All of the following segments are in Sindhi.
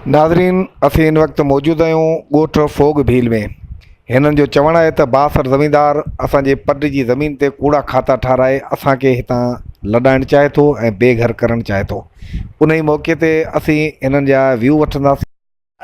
ناظرين اسين هن وقت موجود آهيون ڳوٺ فوگ ڀيل ۾ هنن جو چوڻ آهي ته بااثر زميندار اسان جي پٽ جي زمين تي ڪوڙا کاتا ٺاهرائي اسان کي هتان لڏائڻ چاهي ٿو ۽ بي گهر ڪرڻ چاهي ٿو ان ئي موقعي تي اسين هنن جا ويو وٺنداسين.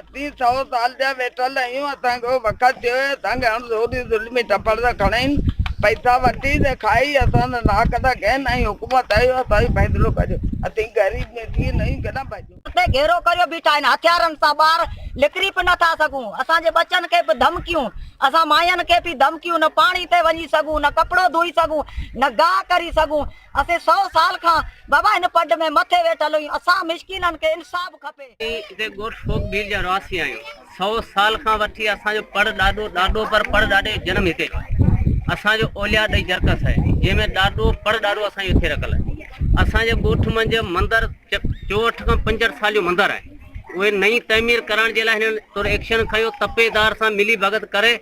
اسين سؤ سال جا ويٺل آهيون اسان کي وقت ٿيو اهي اسان کي هڻ زوري ظلمي ٽپڙ ٿا کڻائين پئسا وٺي ته کائي اسان جا ناڪ ٿا ڪين ۽ حڪومت اهو اسان جو فيصلو ڪجي اسين غريب ميٺي نيون ڪنا. اتي گهيرو ڪريو بيٺا آهن هٿيارن سان ٻاهر نڪري به نه ٿا سگهون اسان جي ٻچن کي به ڌمڪيون اسان ماين کي به ڌمڪيون نه پاڻي تي وڃي سگهون نه ڪپڙو ڌوئي سگهون نه گاهه ڪري سگهون اسين سؤ سال کان بابا هن پڊ ۾ مٿي ويٺل هيون اسان مسڪينن کي انصاف کپي. اسين ڳوٺ ڦوڪ ڀيل جا رهواسي آهيون. سؤ سال کان وٺي اسان جو پڙ ڏاڏو ڏاڏو پر پڙ ڏاڏي جو جنم هتي ٿيو آهي اسان جو اوليا ڏئي جرڪس آهي جنهن ۾ ڏاڏو پڙ ڏاڏو اسان جو هتي رکل آهي اسان جي ڳوٺ منجهه مندر چوهٺ کان پنجهٺ سال جو مندر آهي اهي نئين تعمير ڪرڻ جي لاء هنن طور ايڪشن کنيو تپيدار سان ملي ڀڳت ڪري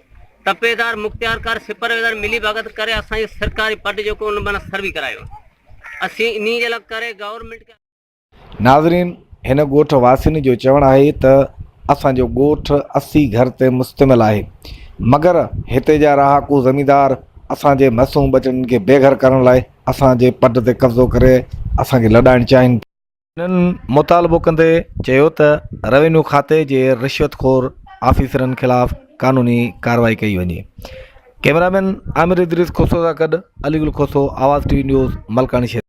تپيدار مختيارڪار سپرويزر ملي ڀڳت ڪري اسان جي سرڪاري پٽ جيڪو ان معنيٰ سروي ڪرايو اسين انهي جي لاء ڪري گورنمنٽ ناظرين هن ڳوٺ واسين جو چوڻ آهي ته اسان جو ڳوٺ اسي گهر تي مشتمل آهي مگر هتي جا رهاڪو زميندار اسان جي معصوم ٻچڙن کي بي گهر ڪرڻ لاء اسان جي پٽ تي قبضو ڪري اسان کي لڏائڻ چاهين ٿا. هنن مطالبو ڪندي چيو ته روينيو کاتي جي رشوت خور آفيسرن خلاف قانوني ڪارروائي ڪئي وڃي. ڪيمرا مين عامر ادريس کوسو سان گڏ علي گل کوسو آواز ٽي وي نيوز ملڪاڻي شريف.